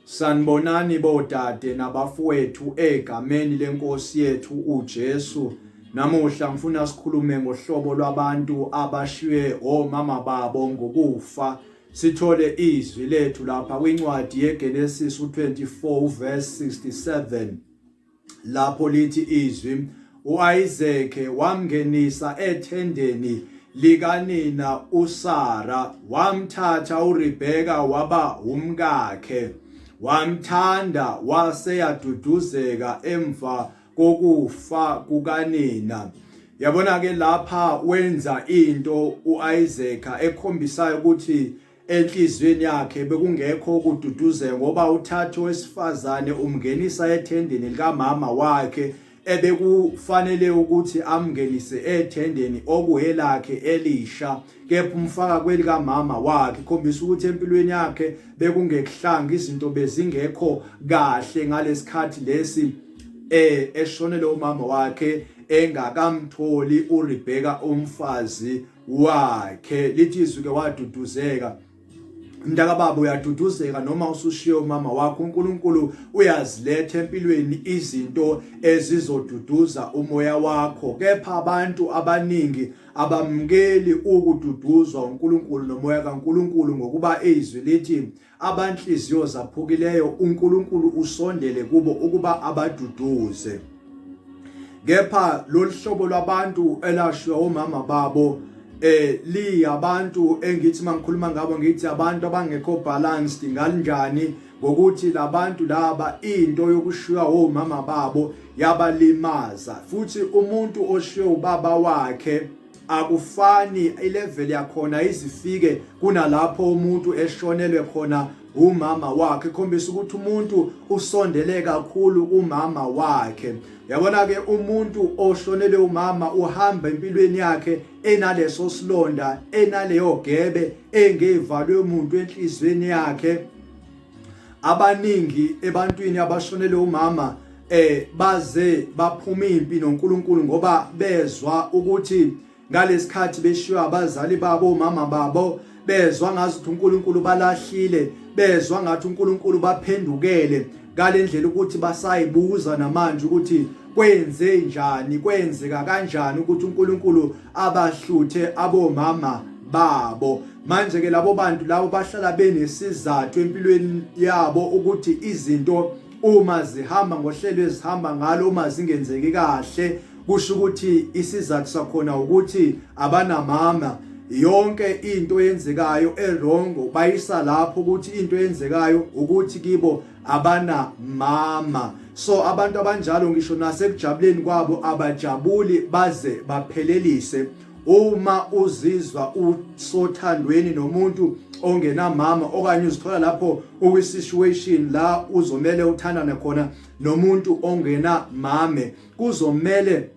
Sanibonani bodade nabafowethu egameni lenkosi yethu uJesu. Namuhla ngifuna sikhulume ngohlobo lwabantu abashiywe omama babo ngokufa. Sithole izwi lethu lapha kwincwadi yeGenesis u24 verse 67. lapho lithi izwi uIsake wamngenisa ethendeni likanina uSara wamthatha uRebeka waba umkakhe wamthanda wase yaduduzeka emva kokufa kukanina yabona ke lapha wenza into uIsaka ekhombisayo ukuthi Enhliziyweni yakhe bekungekho ukududuzeka ngoba uthathe owesifazane umngenisa ethendeni likamama wakhe ebekufanele ukuthi amngenise ethendeni okuhelakhe elisha kepha umfaka kwelikamama wakhe ikhombisa ukuthi empilweni yakhe bekungekuhlanga izinto bezingekho kahle ngalesikhathi lesi eh eshonele umama wakhe engakamtholi uRebecca umfazi wakhe lithi izwi ke waduduzeka mntaka baba uyaduduzeka noma usushiye umama wakho uNkulunkulu uyaziletha empilweni izinto ezizoduduza umoya wakho kepha abantu abaningi abamukeli ukududuzwa uNkulunkulu nomoya kaNkulunkulu ngokuba izwi lithi abanhliziyo zaphukileyo uNkulunkulu usondele kubo ukuba abaduduze kepha lolu hlobo lwabantu elashwa omama babo eh liyabantu engithi mangikhuluma ngabo ngithi abantu abangekho balanced ngalinjani ngokuthi labantu laba into yokushiywa omama babo yabalimaza futhi umuntu oshiywe ubaba wakhe akufani ilevel yakhona izifike kunalapho umuntu eshonelwe khona umama wakhe khombisa ukuthi umuntu usondele kakhulu umama wakhe yabona ke umuntu oshonele umama uhamba empilweni yakhe enaleso silonda enaleyo gebe engevalwe umuntu enhlizweni yakhe abaningi ebantwini abashonele umama eh baze baphuma impi noNkulunkulu ngoba bezwa ukuthi ngalesikhathi beshiywa abazali babo mama babo bezwa ngathi uNkulunkulu balahlile bezwa ngathi uNkulunkulu baphendukele ngalendlela ukuthi basayibuza namanje ukuthi kwenze njani kwenzeka kanjani ukuthi uNkulunkulu abahluthe abomama babo manje ke labo bantu labo bahlala benesizathu empilweni yabo ukuthi izinto uma zihamba ngohlelo ezihamba ngalo uma zingenzeki kahle kusho ukuthi isizathu sakhona ukuthi abanamama yonke into eyenzekayo erongo bayisa lapho ukuthi into eyenzekayo ukuthi kibo abana mama so abantu abanjalo ngisho nasekujabuleni kwabo abajabuli baze baphelelise uma uzizwa usothandweni nomuntu ongenamama okanye uzithola lapho uwi situation la uzomele uthandane khona nomuntu ongenamame kuzomele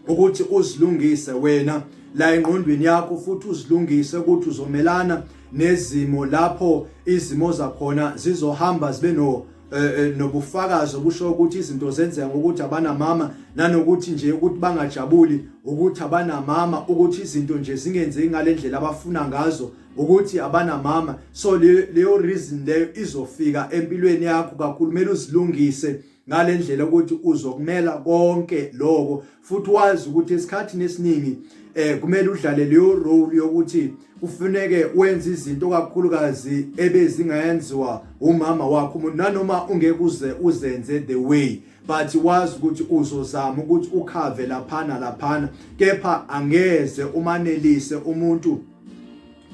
ukuthi uzilungise wena la engqondweni yakho futhi uzilungise ukuthi uzomelana nezimo lapho izimo zakhona zizohamba zibe no eh, eh, nobufakazi obusho ukuthi izinto zenzeka ngokuthi abanamama nanokuthi nje ukuthi bangajabuli ukuthi abanamama ukuthi izinto nje zingenzeki ngalendlela abafuna ngazo ukuthi abanamama so leyo reason leyo izofika empilweni yakho kakhulu kumele uzilungise ngalendlela ukuthi uzokumela konke lokho futhi wazi ukuthi esikhathini esiningi eh kumele udlale leyo role yokuthi kufuneke wenze izinto kakhulukazi ebezingayenziwa umama wakho umuntu nanoma ungeke uze uzenze the way but wazi ukuthi uzozama ukuthi ukhave laphana laphana kepha angeze umanelise umuntu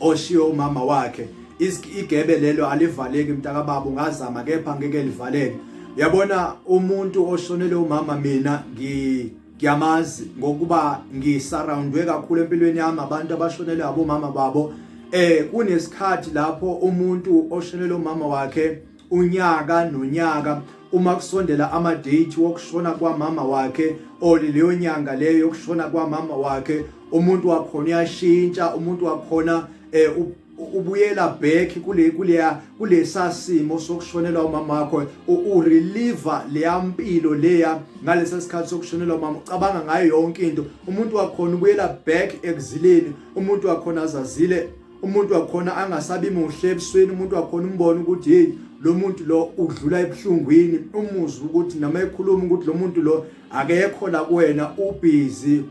oshiye umama wakhe igebe lelo alivaleki mntakababa ungazama kepha ngeke livaleke yabona umuntu oshonele umama mina ngi ngiyamazi ngokuba ngisurroundwe kakhulu empilweni yami abantu abashonele abomama babo eh kunesikhathi lapho umuntu oshonele umama wakhe unyaka nonyaka uma kusondela amadate wokushona kwamama wakhe or leyo nyanga leyo yokushona kwamama wakhe umuntu wakhona uyashintsha umuntu wakhona eh ubuyela back kule kuleya kulesasimo sokushonelwa umama wakho u reliever leya mpilo leya ngalesa sikhathi sokushonelwa umama ucabanga ngayo yonke into umuntu wakhona ubuyela back ekuzileni umuntu wakhona azazile umuntu wakhona angasabi muhle ebusweni umuntu wakhona umbona ukuthi hey lo muntu lo udlula ebuhlungwini umuzwa ukuthi noma ekhuluma ukuthi lo muntu lo akekho la kuwena ubhizi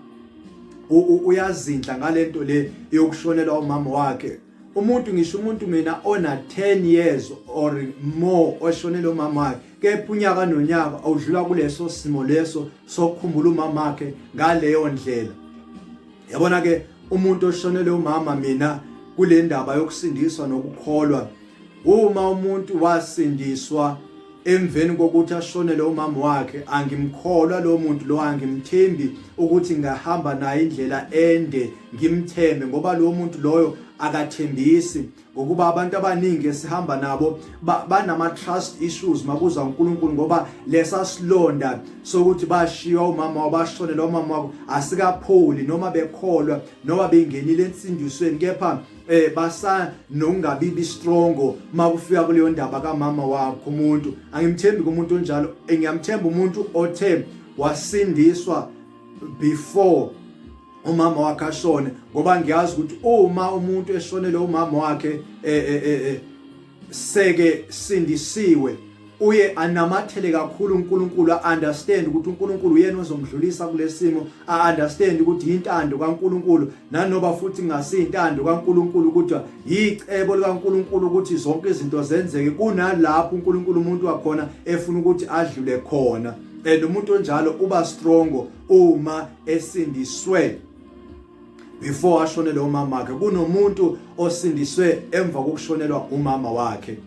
uyazindla ngalento le yokushonelwa umama wakhe umuntu ngisho umuntu mina ona 10 years or more oshonele umama wakhe kepha unyaka nonyaka awudlula kuleso simo leso sokukhumbula umama wakhe ngaleyo ndlela yabona ke umuntu oshonele umama mina kule ndaba yokusindiswa nokukholwa uma umuntu wasindiswa emveni kokuthi ashonele umama wakhe angimkholwa lo muntu lo angimthembi ukuthi ngahamba naye indlela ende ngimthembe ngoba lo muntu loyo akathembisi ngokuba abantu abaningi esihamba nabo banama trust issues makuza uNkulunkulu ngoba lesa silonda sokuthi bashiya umama wabashonela umama wabo asikapholi noma bekholwa noma bengenile ensindisweni kepha eh basa nokungabibi strongo makufika kuleyo ndaba kamama wakho umuntu angimthembi kumuntu onjalo ngiyamthemba umuntu othe wasindiswa before umama wakhe ashone ngoba ngiyazi ukuthi uma umuntu eshonele umama wakhe eh, eh, eh, seke sindisiwe uye anamathele kakhulu uNkulunkulu understand ukuthi uNkulunkulu uyena ozomdlulisa kulesimo a understand ukuthi intando kaNkulunkulu nanoba futhi ngasintando kaNkulunkulu ukuthi yicebo likaNkulunkulu ukuthi zonke izinto zenzeke kunalapho uNkulunkulu umuntu wakhona efuna ukuthi adlule khona and umuntu onjalo uba strongo uma esindiswe before ashonele umama wakhe kunomuntu osindiswe emva kokushonelwa umama wakhe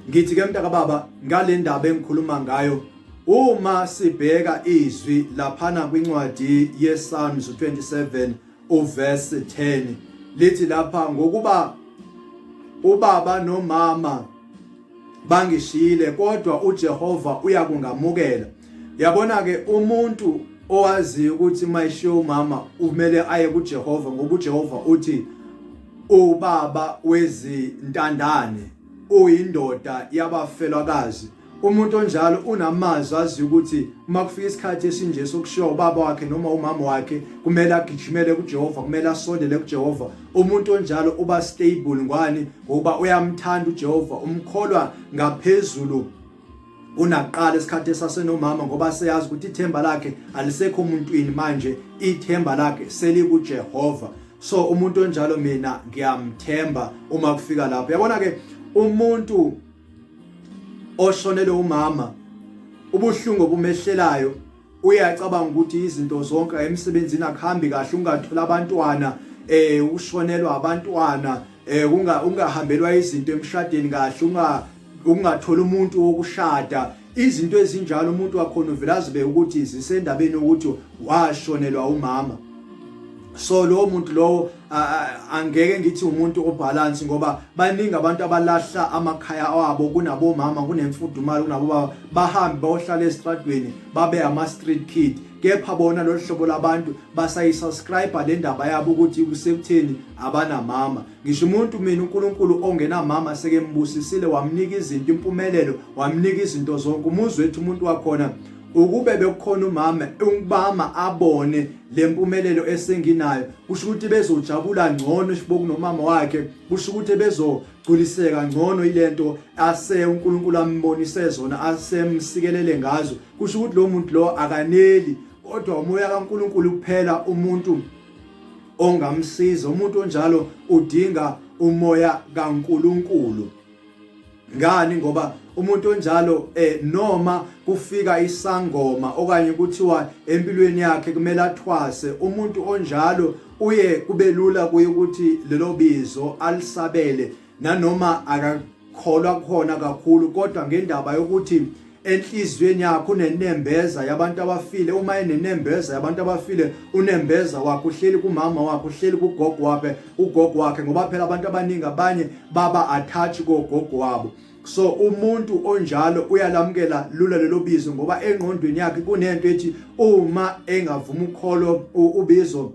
ngithi ke mntaka baba ngale ndaba engikhuluma ngayo uma sibheka izwi laphana kwincwadi yeSalms 27 uverse 10 lithi lapha ngokuba ubaba nomama bangishiyile kodwa uJehova uyakungamukela yabona ke umuntu owaziyo ukuthi mayishiya umama kumele aye kuJehova ngoba uJehova uthi ubaba wezintandane uyindoda yabafelwakazi umuntu onjalo unamazwi aziyo ukuthi uma kufika isikhathi esinje sokushiya ubaba wakhe noma umama wakhe kumele agijimele kuJehova kumele asondele kuJehova umuntu onjalo uba stable ngwani ngoba uyamthanda uJehova umkholwa ngaphezulu kunakuqala esikhathi esasenomama ngoba seyazi ukuthi ithemba lakhe alisekho muntwini manje ithemba lakhe selikuJehova so umuntu onjalo mina ngiyamthemba uma kufika lapho yabona ke umuntu oshonele umama ubuhlungu obumehlelayo uyacabanga ukuthi izinto zonke emsebenzini akuhambi kahle ungathola abantwana eh ushonelwa abantwana eh unga ungahambelwa izinto emshadeni kahle unga ungathola umuntu wokushada izinto ezinjalo umuntu wakhona uvela azibe ukuthi zisendabeni ukuthi washonelwa umama so lowo muntu lowo angeke ngithi umuntu obalance ngoba baningi abantu abalahla amakhaya abo kunabomama kunemfudumalo kunabobaba bahambe bayohlala esitradweni babe ama street kid kepha bona lolu hlobo labantu basayisubscribe le ndaba yabo ukuthi kusekutheni abanamama ngisho umuntu mina uNkulunkulu ongenamama sekembusisile wamnika izinto impumelelo wamnika izinto zonke umuzwe wethu umuntu wakhona ukube bekukhona umama ungibama abone lempumelelo esenginayo kusho ukuthi bezojabula ngcono isiboku nomama wakhe kusho ukuthi bezogculiseka ngcono ilento ase uNkulunkulu ambonise zona asemsikelele ngazo kusho ukuthi lo muntu lo akaneli kodwa umoya kaNkulunkulu kuphela umuntu ongamsiza umuntu onjalo udinga umoya kaNkulunkulu ngani ngoba umuntu onjalo eh noma kufika isangoma okanye kuthiwa empilweni yakhe kumele athwase umuntu onjalo uye kubelula kuye ukuthi lelo bizo alisabele nanoma akakholwa khona kakhulu kodwa ngendaba yokuthi enhliziyweni yakho unenembeza yabantu abafile uma enenembeza yabantu abafile unembeza wakho uhleli kumama wakho uhleli kugogo wakhe ugogo wakhe ngoba phela abantu abaningi abanye baba attach kogogo wabo so umuntu onjalo uyalamukela lula lelo bizo ngoba engqondweni yakhe kunento ethi uma engavuma ukholo ubizo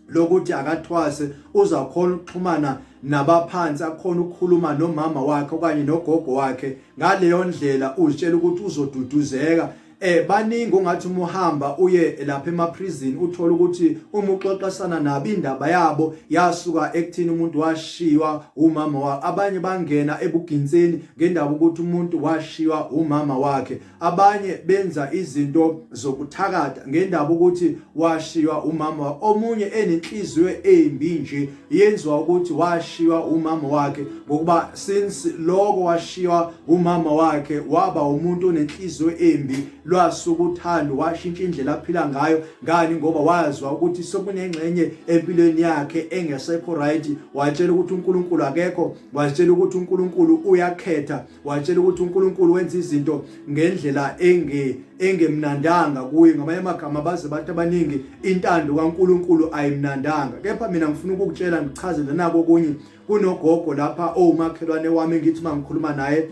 lokuthi akathwase uzakhona ukuxhumana nabaphansi akhona ukukhuluma nomama wakhe okanye nogogo wakhe ngaleyo ndlela uzitshela ukuthi uzoduduzeka eh baningi ungathi uma uhamba uye lapha emaprison uthola ukuthi uma uxoxisana nabo indaba yabo yasuka ekuthini umuntu washiywa umama wakhe abanye bangena ebuginseni ngendaba ukuthi umuntu washiywa umama wakhe abanye benza izinto zokuthakatha ngendaba ukuthi washiywa umama omunye enenhliziyo embi nje yenziwa ukuthi washiywa umama wakhe ngokuba since lokho washiywa umama wakhe waba umuntu onenhliziyo embi lwasuka uthando washintsha indlela aphila ngayo ngani ngoba wazwa ukuthi sekunengxenye empilweni yakhe engesekho right watshela ukuthi uNkulunkulu akekho watshela ukuthi uNkulunkulu uyakhetha watshela ukuthi uNkulunkulu wenza izinto ngendlela enge engemnandanga kuye ngamanye amagama baze bathi abaningi intando kaNkulunkulu ayimnandanga kepha mina ngifuna ukukutshela ngichazele nako kunye kunogogo lapha owumakhelwane wami ngithi mangikhuluma naye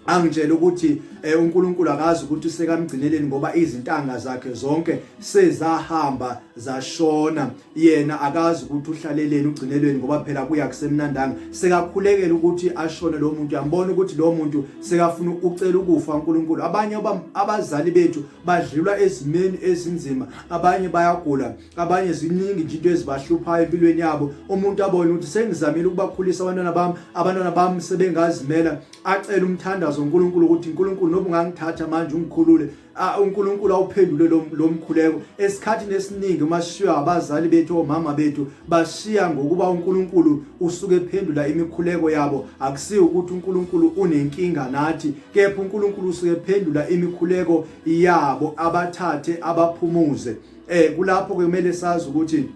angitshela ukuthi eh, uNkulunkulu akazi ukuthi usekamgcineleni ngoba izintanga zakhe zonke sezahamba zashona yena akazi ukuthi uhlaleleni ugcinelweni ngoba phela kuya kusemnandanga sekakhulekela ukuthi ashone lo muntu yambona ukuthi lo muntu sekafuna ucela ukufa uNkulunkulu abanye abazali bethu badlula ezimeni ezinzima abanye bayagula abanye ziningi nje into ezibahluphayo empilweni yabo umuntu abone ukuthi sengizamile ukubakhulisa abantwana bami abantwana bami sebengazimela acela umthandazo uNkulunkulu ukuthi uNkulunkulu nobungangithatha manje ungikhulule Ah, uNkulunkulu awuphendule lo mkhuleko esikhathini esiningi uma sishiywa abazali bethu omama bethu bashiya ngokuba uNkulunkulu usuke ephendula imikhuleko yabo akusiyo ukuthi uNkulunkulu unenkinga nathi kepha uNkulunkulu usuke ephendula imikhuleko yabo abathathe abaphumuze eh kulapho ke kumele sazi ukuthi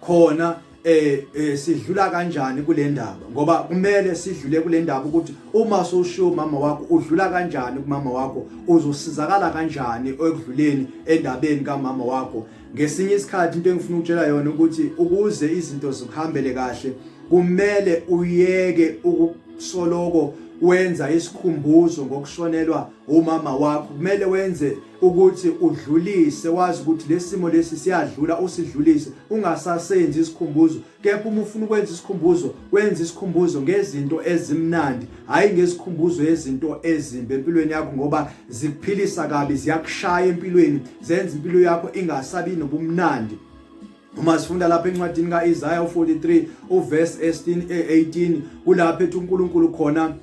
khona eh, eh sidlula kanjani kule ndaba ngoba kumele sidlule kule ndaba ukuthi uma soshiya umama wakho udlula kanjani kumama wakho uzosizakala kanjani ekudluleni endabeni kamama wakho ngesinye isikhathi into engifuna ukutshela yona ukuthi ukuze izinto zikuhambele kahle kumele uyeke ukusoloko wenza isikhumbuzo ngokushonelwa umama wakho kumele wenze ukuthi udlulise wazi ukuthi lesimo lesi siyadlula usidlulise ungasasenzi isikhumbuzo kepha uma ufuna ukwenza isikhumbuzo wenza isikhumbuzo ngezinto ezimnandi hayi ngezikhumbuzo yezinto ezimbi empilweni yakho ngoba zikuphilisa kabi ziyakushaya empilweni zenza impilo yakho ingasabi nobumnandi uma sifunda lapha encwadini kaIsaya 43 uverse 18 kulapho ethi uNkulunkulu khona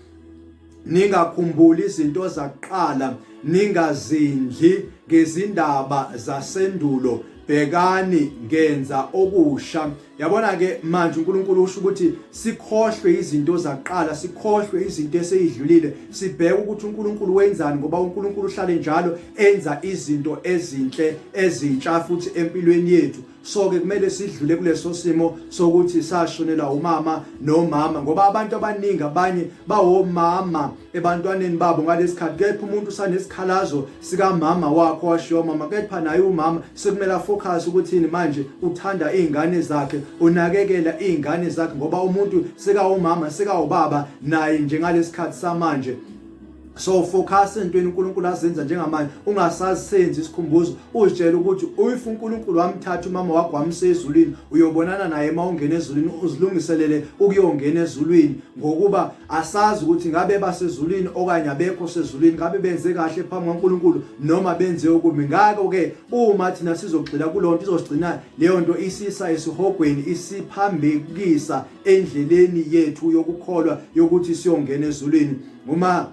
ningakhumbuli izinto zakuqala ningazindli ngezindaba zasendulo bhekani ngenza okusha yabona ke manje uNkulunkulu usho ukuthi sikhohlwe izinto zaqala sikhohlwe izinto eseyidlulile sibheke ukuthi uNkulunkulu wenzani ngoba uNkulunkulu uhlale njalo enza izinto ezinhle ezintsha futhi empilweni yethu so ke kumele sidlule kuleso simo sokuthi sashonelwa umama nomama ngoba abantu abaningi abanye bawomama ebantwaneni babo ngalesikhathi kepha umuntu usanesikhalazo sikamama wakho washiya umama kepha naye umama sekumele focus ukuthini manje uthanda izingane zakhe unakekela izingane zakhe ngoba umuntu sekawumama sekawubaba naye njengalesikhathi samanje so focus entweni uNkulunkulu azenza njengamanje ungasasenzi isikhumbuzo uzitshela ukuthi if uNkulunkulu wamthatha umama wakho wamse ezulwini uyobonana naye uma ungena ezulwini uzilungiselele ukuyongena ezulwini ngokuba asazi ukuthi ngabe basezulwini okanye abekho sezulwini ngabe benze kahle phambi kwaNkulunkulu noma benze okubi ngakho ke uma thina sizogxila kulonto izosigcina leyo nto isisa esihogweni isiphambekisa endleleni yethu yokukholwa yokuthi siyongena ezulwini uma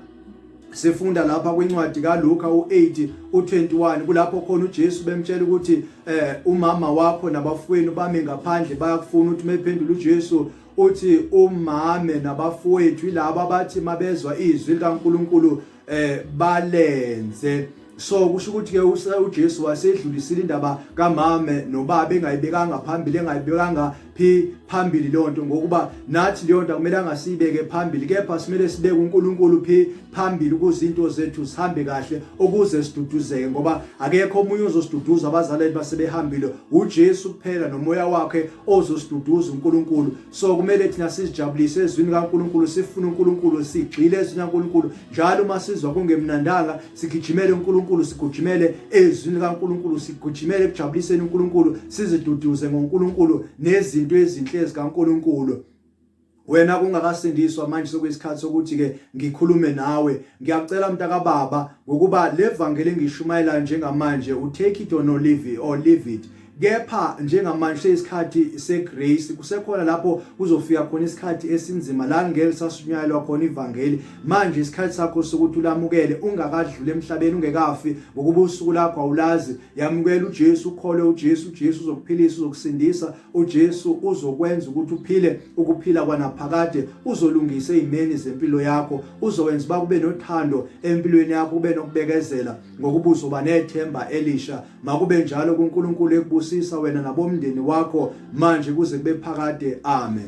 sifunda lapha kwincwadi kaLuka u8 u21 kulapho khona uJesu bemtshela ukuthi eh umama wakho nabafowenu bami ngaphandle bayakufuna ukuthi mephendula uJesu uthi umame nabafowethu ilabo abathi mabezwa izwi likaNkuluNkulu eh balenze so kusho ukuthi ke uJesu wasedlulisile indaba kamame nobaba engayibekanga phambili engayibekanga phi phambili lonto ngokuba nathi leyo nto kumele angasibeke phambili kepha simele sibeke uNkulunkulu phi phambili ukuze into zethu sihambe kahle ukuze siduduzeke ngoba akekho omunye ozosiduduza abazaleli basebehambile uJesu kuphela nomoya wakhe ozosiduduza uNkulunkulu so kumele thina sizijabulise ezwini kaNkulunkulu sifune uNkulunkulu sigxile ezwini kaNkulunkulu njalo uma sizwa kungemnandanga sigijimele uNkulunkulu sigujimele ezwini likaNkulunkulu sigujimele ekujabuliseni uNkulunkulu siziduduze ngoNkulunkulu nezinto ezinhle ezikaNkulunkulu wena kungakasindiswa manje sokuyisikhathi sokuthi ke ngikhulume nawe ngiyacela mntakababa ngokuba levangeli engishumayelayo njengamanje u take it or no leave it or leave it kepha njengamanje seyisikhathi segrace kusekhona lapho kuzofika khona isikhathi esinzima la ngeke sashunyayelwa khona ivangeli manje isikhathi sakho sokuthi ulamukele ungakadlule emhlabeni ungekafi ngokuba usuku lakho awulazi yamukela uJesu ukhole uJesu uJesu uzokuphilisa uzokusindisa uJesu uzokwenza ukuthi uphile ukuphila kwanaphakade uzolungisa izimeni zempilo yakho uzowenza uba kube nothando empilweni yakho ube nokubekezela ngokuba uzoba nethemba elisha makube njalo kuNkulunkulu ekubusisa wena nabomndeni wakho manje kuze kube phakade amen